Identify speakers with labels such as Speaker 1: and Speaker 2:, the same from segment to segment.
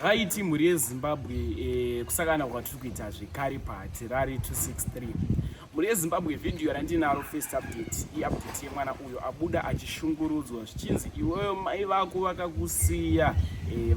Speaker 1: raiti mhuri yezimbabwe eh, kusakana kwatiri kuita zvekare pahatirari 263 mhuri yezimbabwe vhidhiyo randinaro first update iupdate yemwana uyo abuda achishungurudzwa zvichinzi iweyo mai vako vakakusiya eh,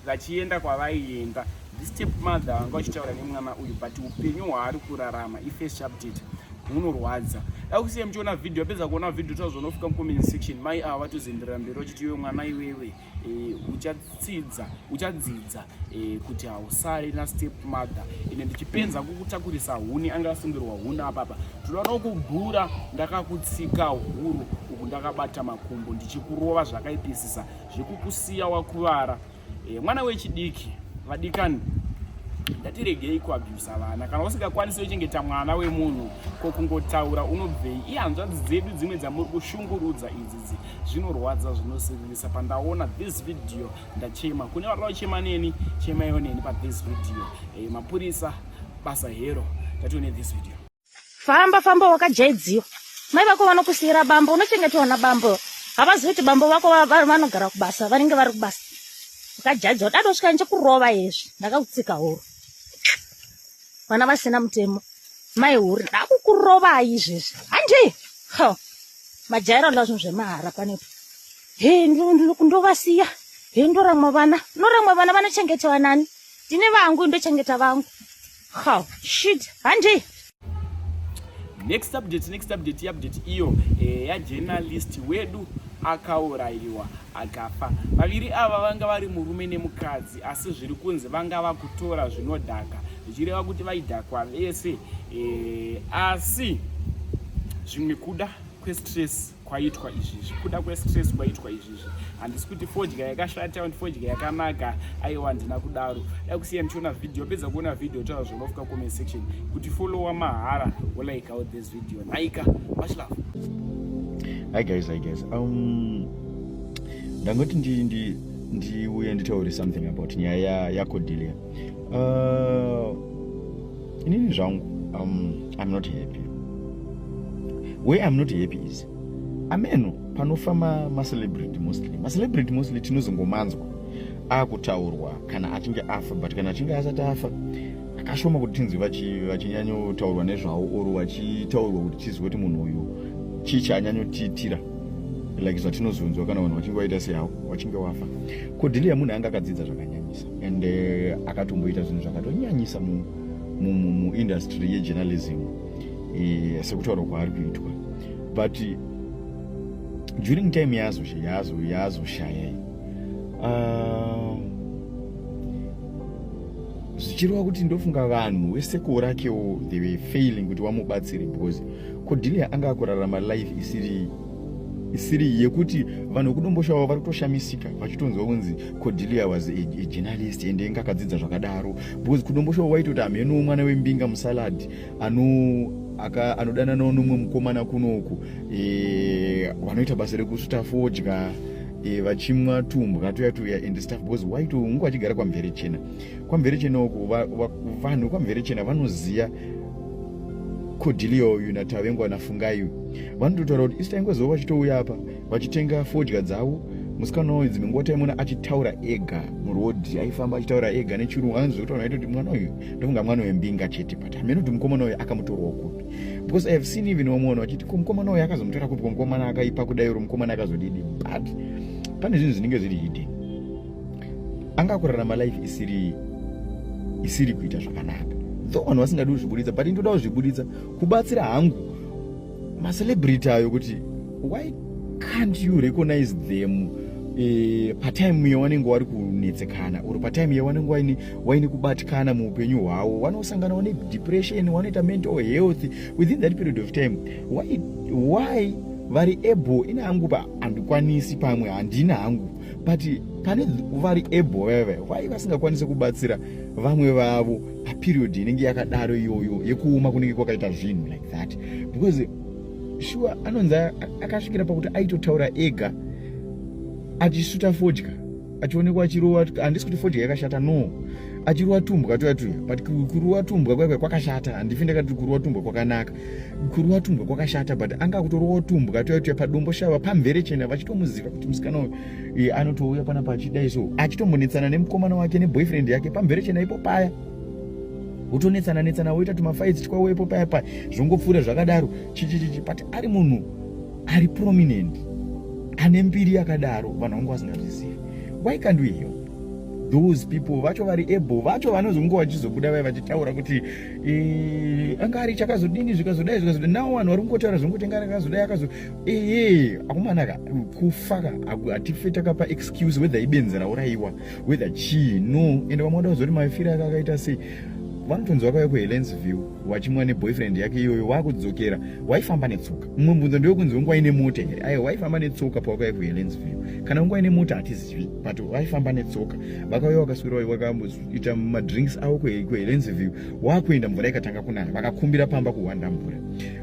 Speaker 1: vachienda kwavaienda step mother vanga vachitaura nemwana uyu but upenyu hwaari kurarama ifirst update hunorwadza dakusiya muchiona vhidhiyo apedza kuona vhidhiyo tazonofika mucomment section mai ava vatozenderera mberi vachiti iwe mwana iwewe e, uchatsidza uchadzidza e, kuti hausare nastep mother ine ndichipenza kukutakurisa huni anga asungirwa huni apapa tinoda nokubhura ndakakutsika huru uku ndakabata makumbo ndichikurova zvakaipisisa zvekukusiya wakuvara e, mwana wechidiki vadikani ndatiregei kuabhusa vana kana usingakwanisi wechengeta mwana wemunhu ko kungotaura unobvei ihanzvadzi dzedu dzimwe dzamuri kushungurudza idzi mukadzi zvinorwadza zvinosiririsa pandaona this video ndachema kune vanoda kuchema neni chemaiwo neni pathis video e, mapurisa basa hero tatione this video famba famba
Speaker 2: wakajaidziwa mai vako vanokusiyira bambo unochengetwa na bambo havazivi kuti bambo vako vanogara kubasa vanenge vari kubasa ukajaidziwa dado svika ndichakurova hezvi ndakakutsika horo vana vasina mutemo mai huri ndakukurovai izvezvi handi ho majaira nda zvinhu zvemahara panepo he ndovasiya he ndoramwa vana noramwa vana vanochengetewa nani ndine vangu ndochengeta vangu ho shit handi
Speaker 1: next update next update iupdate iyo eh, yajournalist wedu akaurayiwa akafa vaviri ava vanga vari murume nemukadzi asi zviri kunzi vanga vakutora zvinodhaka zvichireva kuti vaidhakwa vese e, asi zvimwe kuda kwestress kwaitwa izvizvi kuda kwestress kwaitwa izvizvi handisi kuti fodya yakashata and fodya yakanaka aiwa handina kudaro dai kusiya ndichiona video apedza kuona video taura zvonofuka comment section kuti followa mahara wolaika out this video naika much love
Speaker 3: hi guys hi guys um ndangoti ndi ndi ndiuye nditaure something about nyaya yako dilia uh, inini zvangu um, i'm not happy way i'm not happy is ameno panofa macelebrity ma mostly macelebrity mostly tinozongomanzwa akutaurwa kana achinge afa but kana achinge asati afa akashoma kuti tinzwi vachinyanyotaurwa nezvawo or vachitaurwa kuti tizive kuti munhu uyu chii chaanyanyotiitira like zvatinozunzwa kana vanhu vachinge vaita seyavo wachinge wafa ko dhiliya munhu anga akadzidza zvakanyanyisa and eh, akatomboita zvinhu zvakatonyanyisa muindustry yejournalism eh, sekutaura kwaari kuitwa but during time yaazoshayai ah, zvichireva kuti ndofunga vanhu wesekoo rakewo they were failing kuti wamubatsire because Cordelia anga akurarama life isiri isiri yekuti vanhu vekudomboshawa vari kutoshamisika vachitonzwa kunzi cordelia was a, a journalist ende inga akadzidza zvakadaro because kudomboshawa waitoti hamhenowo mwana wembinga musalad ano aka anodananawo nomwe mukomana kunoku e, vanoita basa rekusuta fodya e, vachimwa tumbwa tuya tuya and stuff because waito unge vachigara kwamvere chena kwamvere chena uku vanhu va, va, kwamvere chena vanoziva kodhiliyo uyu natavengwa nafungai uyu vanototaura kuti isita ingwezuva vachitouya apa vachitenga fodya dzavo musikana uyu dzimwe nguva taimona achitaura ega murodhi aifamba achitaura ega nechirungu anzi zvekuti vanhu vaitoti mwana uyu ndofunga mwana uyu mbinga chete but hameno kuti mukomana uyu akamutorawo kupi because ihave seen even vamwe vanhu vachiti ko mukomana uyu akazomutora kupi ko mukomana akaipa kudai uri mukomana akazodidi but pane zvinhu zvinenge zviri hidden anga kurarama life isiri isiri kuita zvakanaka though vanhu vasingadi kuzvibuditsa but ndoda kuzvibuditsa kubatsira hangu macelebrity ayo kuti why can't you recognize them eh, patime iyo vanenge vari kunetsekana or patime iyo vanenge waine, waine kubatikana muupenyu hwavo vanosanganawo nedepression vanoita mental health within that period of time why, why vari able ine hangu pa handikwanisi pamwe handina hangu but pane vari able veve why vasingakwanise kubatsira vamwe vavo paperiod inenge yakadaro iyoyo yekuoma kunenge kwakaita zvinhu like that because sure anonzi akasvikira pakuti aitotaura ega achisuta fodya achionekwa achirowa handisi kuti fodya yakashata no achirowa tumbwa tuya tuya but kurowa tumbwa kwakwe kwakashata handifi ndakati kurowa tumbwa kwakanaka kuri watumbwa kwakashata but anga kutoriwa watumbwa toyatuya padombo shava pamvere chena vachitomuziva kuti musikana uyu e, anotouya panapa achidai so achitombonetsana nemukomana wake neboyfriend yake pamvere chena ipo paya wotonetsana netsana woita tumafaidzi twawo ipo paya paya zvongopfuura zvakadaro chichichichi but ari munhu ari prominent ane mbiri yakadaro vanhu vangu vasingazvizivi why can't we help those people vacho vari able vacho vanozonge vachizobuda vai vachitaura kuti eh, anga ari chakazodini zvikazodai zvikazodai nawo vanhu vari kungotaura zvongotengana akazodai akazo ee akumanaka kufaka hatife takapa excuse whether ibenzi raurayiwa whether chii no ende vamwe vada kuzoti mafira aka akaita sei vanotonzi vakauya kuhelens view vachimwa neboyfriend yake iyoyo wakudzokera waifamba netsoka mumwe mbunzo ndewekunzi wanga waine mota here aiwa waifamba netsoka pawakauya kuhelens view kana wanga waine mota hatizivi but waifamba netsoka vakauya wakaswira kuita madrinks avo kuhelenziview waakuenda mvura ikatanga kunaya vakakumbira pamba kuhwanda mvura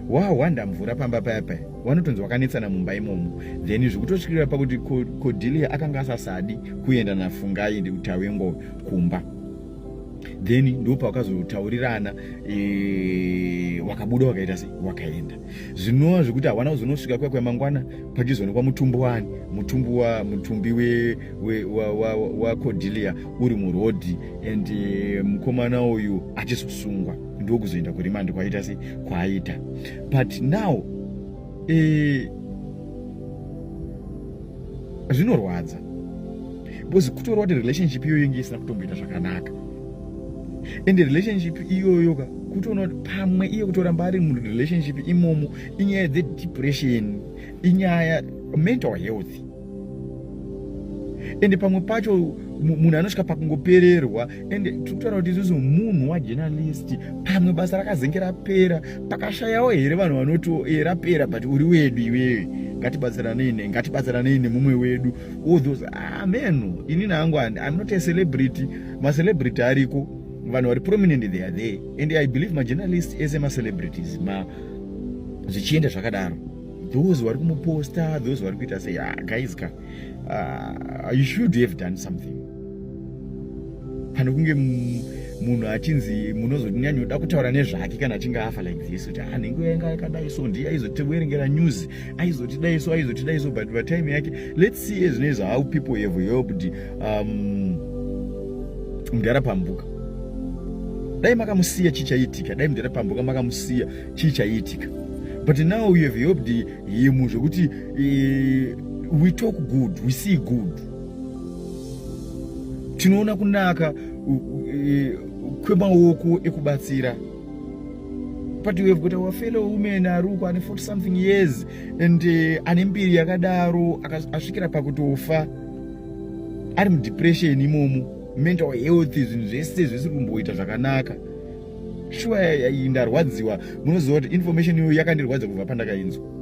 Speaker 3: wahwanda mvura pamba paya paya wanotonzi wakanetsana mumba imomo then zvikutotyirira pakuti kodilia akanga asasadi kuenda nafungai ndikutawengo kumba then ndopawakazotaurirana e, wakabuda wakaita sei wakaenda zvinova zvekuti hawana kuzonosvika kuya kwemangwana pachizoonekwa mutumbi wani mutumbi wa mutumbi we, we, wa, wa, wa codilia uri murodhi and eh, mukomana um, uyu achizosungwa ndokuzoenda kurimandi kwaita se kwaaita but now eh, zvinorwadza because kutorwa kuti relationship iyoyo inge isina kutomboita zvakanaka ende relationship iyoyo ka kutoona kuti pamwe iye kutoramba ari murelationship imomo inyaya dzedepression inyaya mental health ende pamwe pacho munhu anosvika pakungopererwa ende tiri kutaura kuti isusu munhu wajenalisti pamwe basa rakazenge rapera pakashayawo here vanhu vanoti eh, rapera but uri wedu iwewe ngatibatsiranei ne ngatibatsiranei nemumwe wedu all those ah man ini nangu i'm not a celebrity ma celebrity ariko vanhu vari prominent they are there and i believe ma journalists ese ma celebrities ma zvichienda zvakadaro those vari kumuposta those vari kuita say ah guys ka uh, you should have done something pane kunge munhu achinzi munozoti nyanyoda kutaura nezvake kana achinge afa like this kuti ah nhengo yanga yakadai so ndiye aizotiverengera news aizotidai so aizotidai so but patime yake let's see ezvinoizvo how people have helped um, mudhara pambuka dai makamusiya chii chaiitika dai mudhara pambuka makamusiya chii chaiitika but now you have helped him zvekuti uh, we talk good we see good tinoona kunaka e, kwemaoko ekubatsira but we have got our fellow women ari uko ane 40 something years and e, ane mbiri yakadaro asvikira pakutofa ari mudepression imomo mental health zvinhu zvese zvisi kumboita zvakanaka shuwa ndarwadziwa munoziva kuti information iyoyo yakandirwadza kubva pandakainzwa